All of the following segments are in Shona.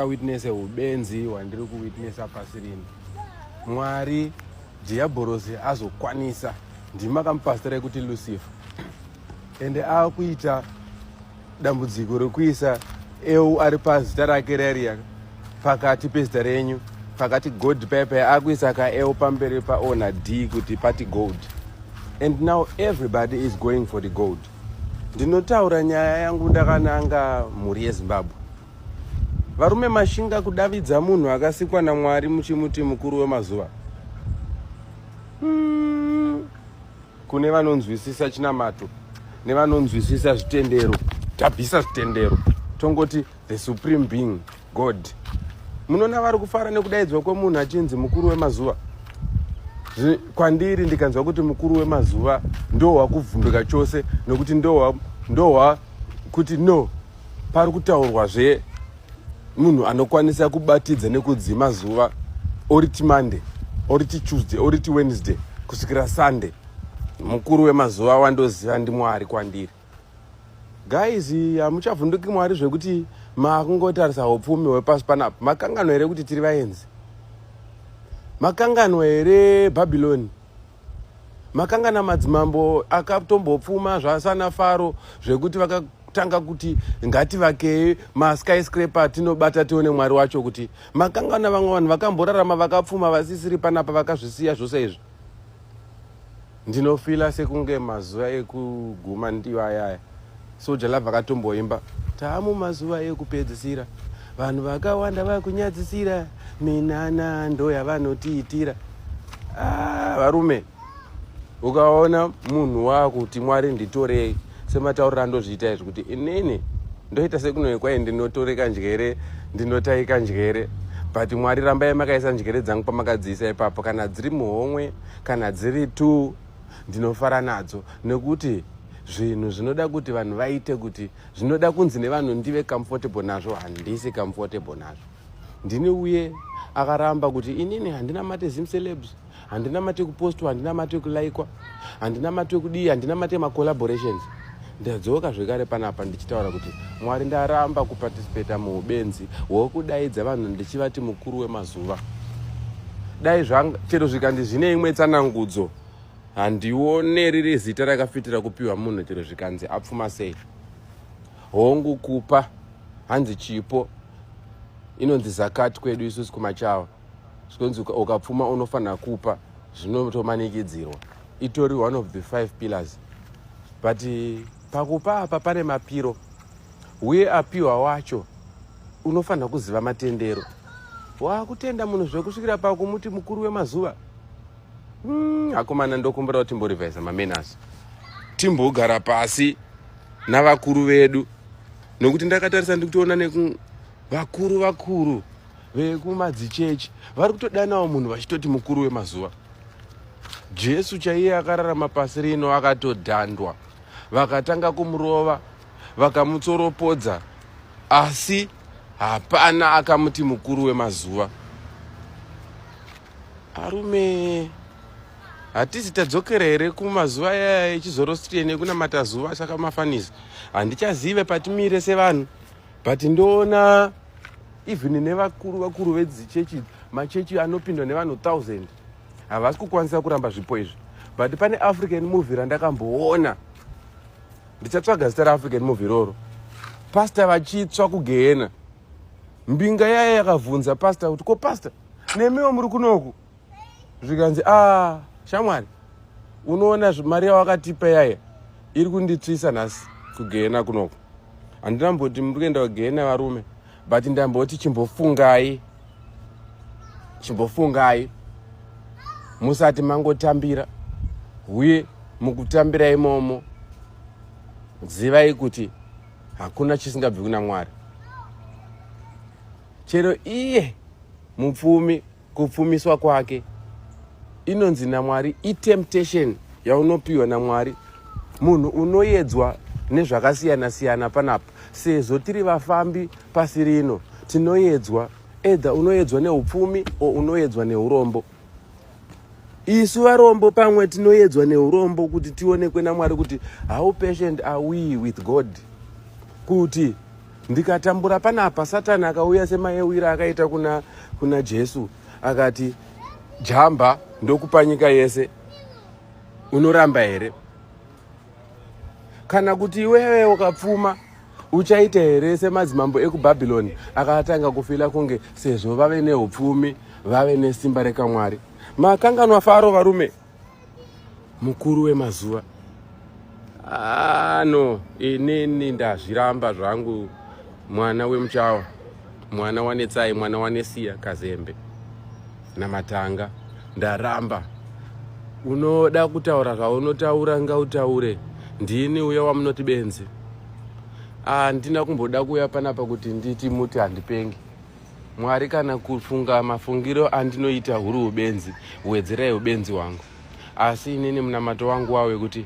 witness ubenzi hwandiri kuwitnessa pasi rino mwari dhiyabhorosi azokwanisa ndimi makamupasitira ekuti lucifer ende akuita dambudziko rekuisa eu ari pazita rake rariya pakati pezita renyu pakati gold pepe akuisa ka eu pamberi paona d kuti pati gold and now everybody is going for the gold ndinotaura nyaya yangu ndakananga mhuri yezimbabwe Varume mashinga kudavidza munhu akasikwa naMwari muchimuti mukuru wemazuva. Hmm. Kune vanonzwisisa chinamato nevanonzwisisa zvitendero. Tabvisa zvitendero. Tongoti the supreme being God. Munona vari kufara nekudaidzwa kwemunhu achinzi mukuru wemazuva. Kwandiri ndikanzwa kuti mukuru wemazuva ndohwa kuvhunduka chose nokuti ndohwa ndohwa kuti no pari kutaurwa zve munhu anokwanisa kubatidza nekudzima zuva oriti monday oriti tuesday oriti wednesday kusvikira sunday mukuru wemazuva wandoziva ndi mwari kwandiri guys hamuchavhunduki mwari zvekuti makungotarisa upfumi hwepasi panapa makanganwa here kuti tiri vaenzi makanganwa here bhabhiloni makangana madzimambo akatombopfuma zvasana faro zvekuti vakatanga kuti ngativakei maskyscrape atinobata tione mwari wacho kuti makangana vamwe vanhu vakamborarama vakapfuma vasisiri panapa vakazvisiya zvose izvi ndinofila sekunge mazuva ekuguma ndiyo ayaya soja love akatomboimba taamu mazuva ekupedzisira vanhu vakawanda vakunyadzisira minana ndo yavanotiitira ah, varume ukaona munhu wakuti mwari nditorei semataurira ndozviita izvi kuti inini ndoita sekunoekwai ndinotoreka njere ndinotaika njere but mwari rambai makaisa njere dzangu pamakadziisa ipapo kana dziri muhomwe kana dziri two ndinofara nadzo nekuti zvinhu zvinoda kuti vanhu vaite kuti zvinoda kunzi nevanhu ndive comfortable nazvo handisi comfortable nazvo ndini uye akaramba kuti inini handina mate zimcelebs handina mate kupostwa handina mate kulaikwa handina mate kudii handina mate macollaborations ndadzoka zvekare panapa ndichitaura kuti mwari ndaramba kuparticipata muubenzi hwokudaidza vanhu ndichivati mukuru wemazuva dai chero zvikandi zvine imwe tsanangudzo handione riri zita rakafitira kupiwa munhu chero zvikanzi apfuma sei hongu kupa hanzi chipo inonzi zakati kwedu isusu kumachawa zvikonzi ukapfuma unofanira kupa zvinotomanikidzirwa itori one of the five pillars but eh, pakupa apa pane mapiro uye apiwa wacho unofanira kuziva matendero wakutenda munhu zvekusvikira pakumuti mukuru wemazuva hmm, akomana ndokumbira kuti timborivhaisa mamenasi timbogara pasi navakuru vedu nokuti ndakatarisa ndikutoona nekuvakuru vakuru vekumadzichechi vari kutodanawo munhu vachitoti mukuru wemazuva jesu chaiye akararama pasi rino akatodhandwa vakatanga kumurova vakamutsoropodza asi hapana akamuti mukuru wemazuva arume hatisi tadzokera here kumazuva ayaya echizorostrian ekunamata zuva saka mafanisi handichazive patimire sevanhu but ndoona even nevakuru vakuru vedzichechi machechi anopindwa nevanhu 1000 havasi kukwanisa kuramba zvipo izvi but pane african movie randakamboona ndichatsvaga zita reafrican movie iroro pasta vachitsva kugehena mbinga yaye yakavhunza pasta kuti ko pasta nemiwo muri kunoku zvikanzi ah shamwari unoona mari yawakatipa yaya iri kunditsvisa nhasi kugehena kunoko handina mboti muri kuenda kugehena varume but ndamboti chimbofungai chimbofungai musati mangotambira uye mukutambira imomo zivai kuti hakuna chisingabvi kuna mwari chero iye mupfumi kupfumiswa kwake inonzi namwari itemptation yaunopiwa namwari munhu unoyedzwa nezvakasiyana siyana panapa sezvo tiri vafambi pasi rino tinoyedzwa edha unoyedzwa neupfumi o unoyedzwa neurombo isu varombo pamwe tinoyedzwa neurombo kuti tionekwe namwari kuti how patient are we with god kuti ndikatambura panapa satani akauya semayewira akaita kuna, kuna jesu akati jamba ndokupa nyika yese unoramba here kana kuti iwewe ukapfuma uchaita here semadzimambo ekubhabhironi akatanga kufila kunge sezvo vave neupfumi vave nesimba rekamwari makanganwa faro varume mukuru wemazuva ano ah, inini ndazviramba zvangu mwana wemuchawa mwana wanetsai mwana wanesiya kazembe namatanga ndaramba unoda kutaura zvaunotaura ngautaure ndini uya wamunoti benzi handina ah, kumboda kuuya panapa kuti nditi muti handipengi Mwari kana kufunga mafungiro andinoita huri hubenzi huwedzerai hubenzi wangu asi inini munamato wangu wawe kuti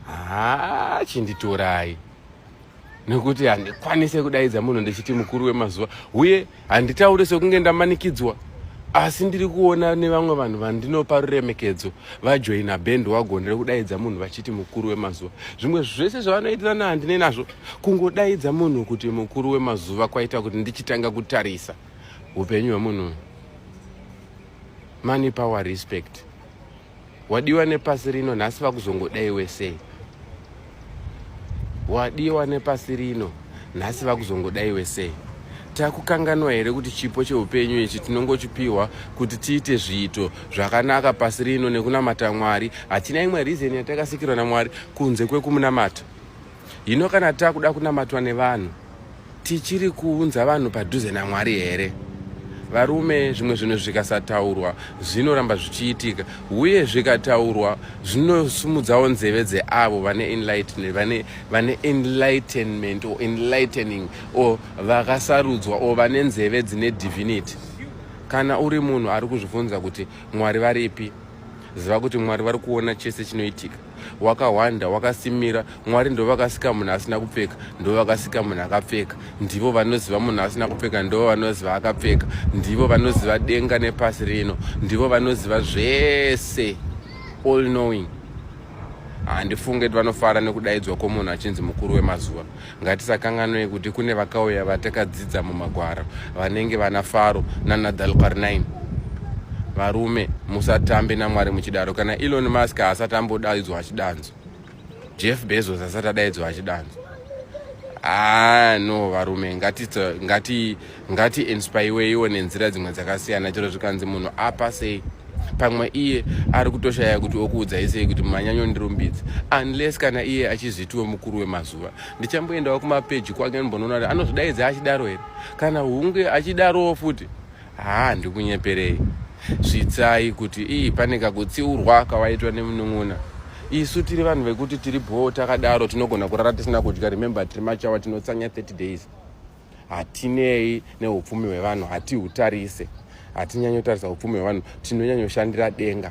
haa chinditorai nekuti handikwanise kudaidza munhu ndichiti mukuru wemazuva uye handitaure sekunge ndamanikidzwa asi ndiri kuona nevamwe vanhu vandinopa ruremekedzo vajoina bhend wagondere kudaidza munhu vachiti mukuru wemazuva zvimwe zvese zvavanoitirana handine nazvo kungodaidza munhu kuti mukuru wemazuva kwaita kuti ndichitanga kutarisa upenyu hwemunhu money power respect wadiwa nepasi rino nhasi vakuzongodai wesei wadiwa nepasi rino nhasi vakuzongodai wesei takukanganwa here kuti chipo cheupenyu ichi tinongochipiwa kuti tiite zviito zvakanaka pasi rino nekunamata mwari hatina imwe reason yatakasikirwa namwari kunze kwekumunamata Hino kana takuda kunamatwa nevanhu tichiri kuunza vanhu padhuze naMwari here? Varume, zvimwe zvinhu zvikasataurwa zvinoramba zvichiitika, uye zvikataurwa zvinosumudzawo nzeve dzeavo vane enlightenment, vane, vane enlightenment or enlightening or vakasarudzwa or vane nzeve dzine divinity. Kana uri munhu ari kuzvibvunza kuti Mwari varipi, ziva kuti Mwari vari kuona chese chinoitika. wakahwanda wakasimira mwari ndovakasika munhu asina kupfeka ndovakasika munhu akapfeka ndivo vanoziva munhu asina kupfeka ndivo vanoziva akapfeka ndivo vanoziva denga nepasi rino ndivo vanoziva zvese all knowing handifunge kuti vanofara nekudaidzwa kwomunhu achinzi mukuru wemazuva Ngatisakanganwe kuti kune vakauya vatakadzidza mumagwaro vanenge vana Faro nana Dalqarnain. Varume musatambe naMwari muchidaro kana Elon Musk asati ambodaidzwa achidanzo. Jeff Bezos asati adaidzwa achidanzo. Ah no varume ngati ngati ngati inspaiweiwo nenzira dzimwe dzakasiyana chero zvikanzi munhu apa sei pamwe iye ari kutoshaya kuti okuudzai sei kuti manyanyo ndirumbidzi unless kana iye achizvitiwo mukuru wemazuva ndichamboendawo kumapeji kwake ndimbonoona kuti anozvidaidza achidaro here kana hunge achidarowo futi haa ndikunyeperei svitsai kuti ii pane kakutsiurwa kawaitwa nemunun'una isu tiri vanhu vekuti tiri bhoo takadaro tinogona kurara tisina kudya remember tiri machawa tinotsanya 30 days hatinei neupfumi hwevanhu hatihutarise hatinyanyotarisa upfumi hwevanhu tinonyanyoshandira denga